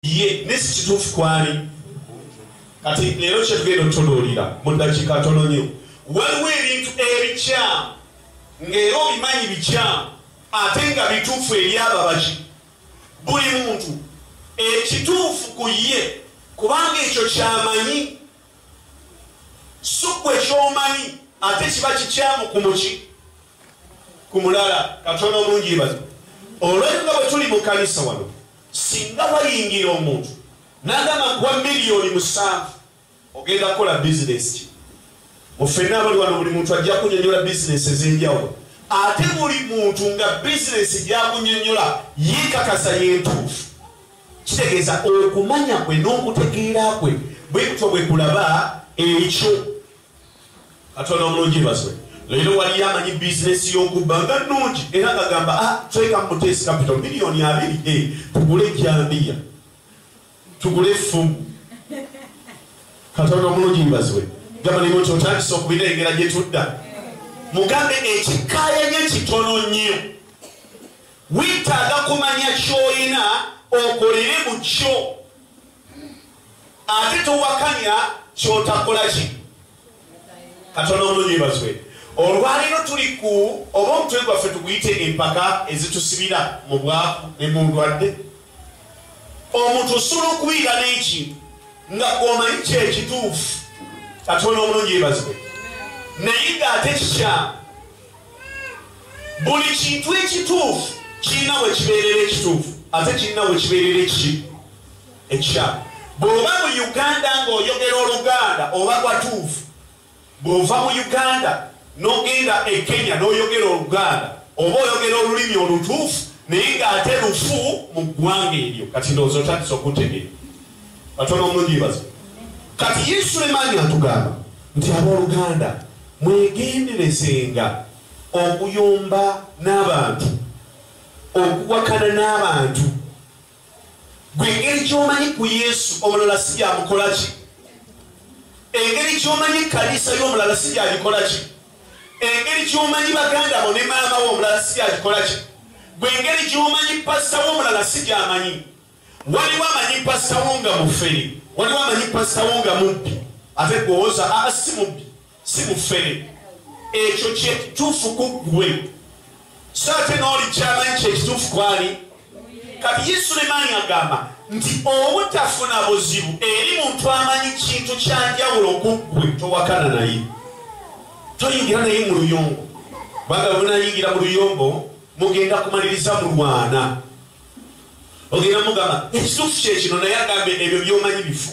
ye ne si kituufu kwali kati leero kyetugenda otutunuulira mu ddakiika ntono nyo waliwo ebintu ebikyamu ng'era obimanyi bikyamu ate nga bituufu eri ababaki buli muntu ekituufu ku ye kubanga ekyo kyamanyi sukku ekyomanyi ate kiba kikyamu ku muki ku mulala katono mungi bazi olwekyo nga bwe tuli mu kanisa wano Singa wayingira omuntu nagamba nkuwa miliyoni musanvu ogenda kukola bizinesi ki? Mu ffenna abali wano buli muntu ajja kunyonyola bizinesi ez'enjawulo ate buli muntu nga bizinesi gyakunyonyola yekakasa yentuufu kitegeeza okumanya kwe n'okutegeera kwe bwekutyo bwekulaba ekyo katonda omulungi baswe leero waliyo amanyi bizinesi y'okubba nga nnungi era ngagamba ah, tweka mutesi kapito miliyoni abiri e eh, tugule ejjambiya tugule effumu katonda omulungi baswe gamba nimo nti otandisa okubirengera gye tudda mugambe ekikayanyo kitono nnyo wetaaga kumanya kyoyina okolere mu kyo ate towakanya kyotakola ki katono omunyebazwe olwaliro tuli ku oba omutwe gwaffe tuguyite empaka ezitusibira mu bwaku ne mu ndwadde omuntu osobola okubiira n'ekintu nga gwomanyi kyekituufu katono omunyebazwe naye ng'ate kikyamu buli kintu ekituufu kirina we kibeerera ekituufu ate kirina we kibeerera ekiki ekyalo bw'oba mu uganda ng'oyogera oluganda oba watuufu bw'ova mu uganda n'ogenda e kenya n'oyogera oluganda oba oyogera olulimi olutuufu naye ng'ate lufu mu ggwanga eryo kati ndowooza otandisa okutegeera batono omundibaza kati yesu emaanyi atugamba nti abooluganda mwegenderezenga okuyomba n'abantu okuwakana n'abantu Gwe engeri gy'omanyi ku Yesu omulala si byamukola ki? Engeri gy'omanyi kkanisa y'omulala si byagikola ki? Engeri gy'omanyi baganda bo ne maama wo omulala si byagikola ki? Gwe engeri gy'omanyi pasita wo omulala si gyamanyi. Waliwo amanyi pasita wo nga mufere, waliwo amanyi pasita wo nga mubbi, ate gwewoza aa ah, si mubbi. si bufere ekyo kyekituufu ku ggwe so ate n'oli kyamanyi kyekituufu kwali kati ye sulemaani agamba nti obutafuna buzibu eri muntu amanyi kintu kyanjawulo ku ggwe towakana naye toyingira naye mu luyombo kubanga bwenayingira mu luyombo mugenda kumaliriza mulwana ogenda mugamba ekituufu kyekino naye agambe ebyo byomanyi bifu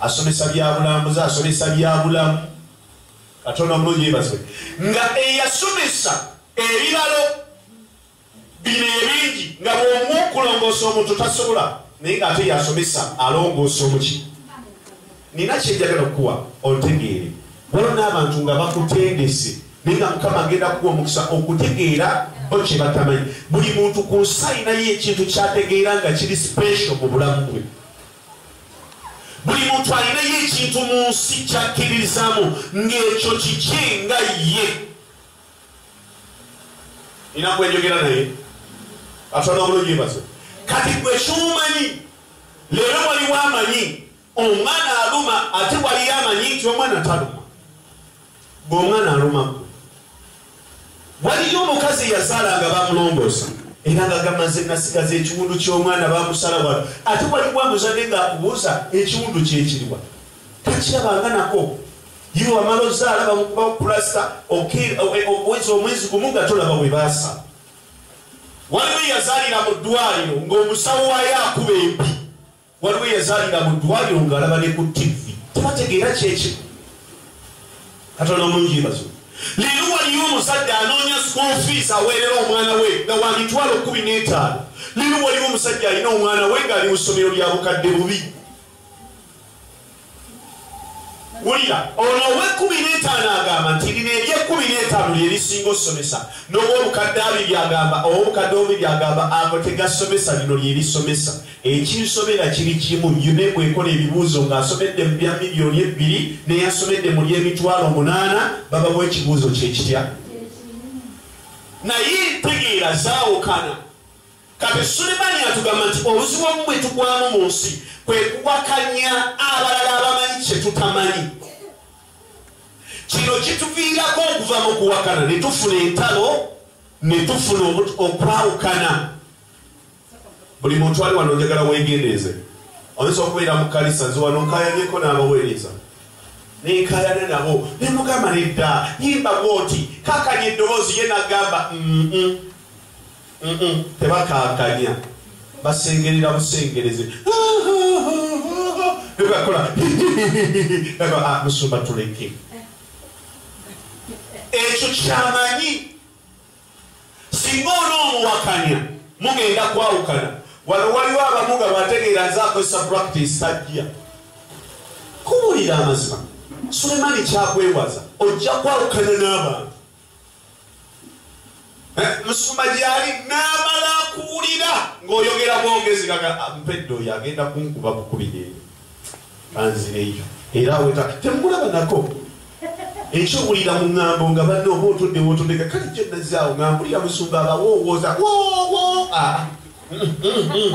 asomesa byabulambuzi asomesa byabulamu katonda omulungi yebazibwe nga eyasomesa ebibalo bino ebingi nga bwomu okulongoosa omuntu tasobola naye nga ate yasomesa alongoosa omuki nina kyenjagala okukuwa ontegeere waliwo n'abantu nga bakutendese naye nga mukama agenda kuwa omukisa okutegeera bo kye batamanyi buli muntu ku nsi alinayo ekintu kyategeera nga kiri special mu bulamu bwe buli muntu alinayo ekintu mu nsi kyakkiririzaamu ng'ekyo kiki nga ye nina kwenjogera naye atwala obulungi mbaze kati gwe kyomanyi leero waliwo amanyi omwana aluma ate waliyo amanyi nti omwana taluma gwe omwana aluma gwe waliyo omukazi eyazaala nga bamulongoosa era nga gamaze nasigaza ekiwundu ky'omwana bamusala wano ate waliwo amuzadde ng'akubuuza ekiwundu kyekiriwa takirabanga nako ye wamala ozaala bamukuba pulasta okwezi omwezi gumu nga tolaba we baasa waliwo eyazaalira mu ddwaliro ng'omusawo wayo akuba empi waliwo yazaalira mu ddwaliro ng'alaba ne ku tivi tebategeera kyekyo katonda omulungi yebazo leero waliyo omuzadde anoonya school fees aweerera omwana we nga wa mitwalo kumi n'etaano leero waliwo omusajja alina omwana we ng'ali mu ssomero lya bukadde bubi wulira ono ow'ekkumi n'etaano agamba nti lino ery'ekkumi n'etaano lye lisinga okusomesa n'ow'obukadde abiri agamba ow'obukadde obubi byagamba ago tegasomesa lino lye lisomesa ekinsobera kiri kimu yune bwekola ebibuuzo ng'asomedde mu bya miliyoni ebbiri neyasomedde mu ly'emitwalo omunaana babawa ekibuuzo kye kitya naye entegeera zaawukana Kati Sulemani atugamba nti obuzibu omu bwe tugwamu mu nsi kwe kuwakanya abalala abamanyi kye tutamanyi. Kino kituviirako okuva mu kuwakana ne tufuna entalo ne tufuna okwawukana. Buli muntu ali wano njagala weegendeeze. Oyinza okubeera mu kkanisa nze wano nkayanyeko n'abaweereza nenkayana nabo ne mugamba nedda yimba bwoti kakanya eddoboozi ye nagamba mm -mm. tebakankanya basengerera busengereze nebakola ah, musumba tuleke ekyo kyamanyi singa ona omuwakanya mugenda kwawukana wano waliwo abamu nga bategeera nze akozesa practice tajja kuwulira amazima sulemani kyakwewaza ojja kwawukana n'abantu eh, musumba gyali n'amala akuwulira ng'oyogera bwogezi kaga ah, mpedde oyo agenda kunkuba bukubireero anzireyo era aweta temulaba nako ekyowulira mu ŋŋambo nga banne oba otudde wotondeka kale gye nazaawo nga mpulira musumba abawoowooza woowo a ah. mm, mm, mm.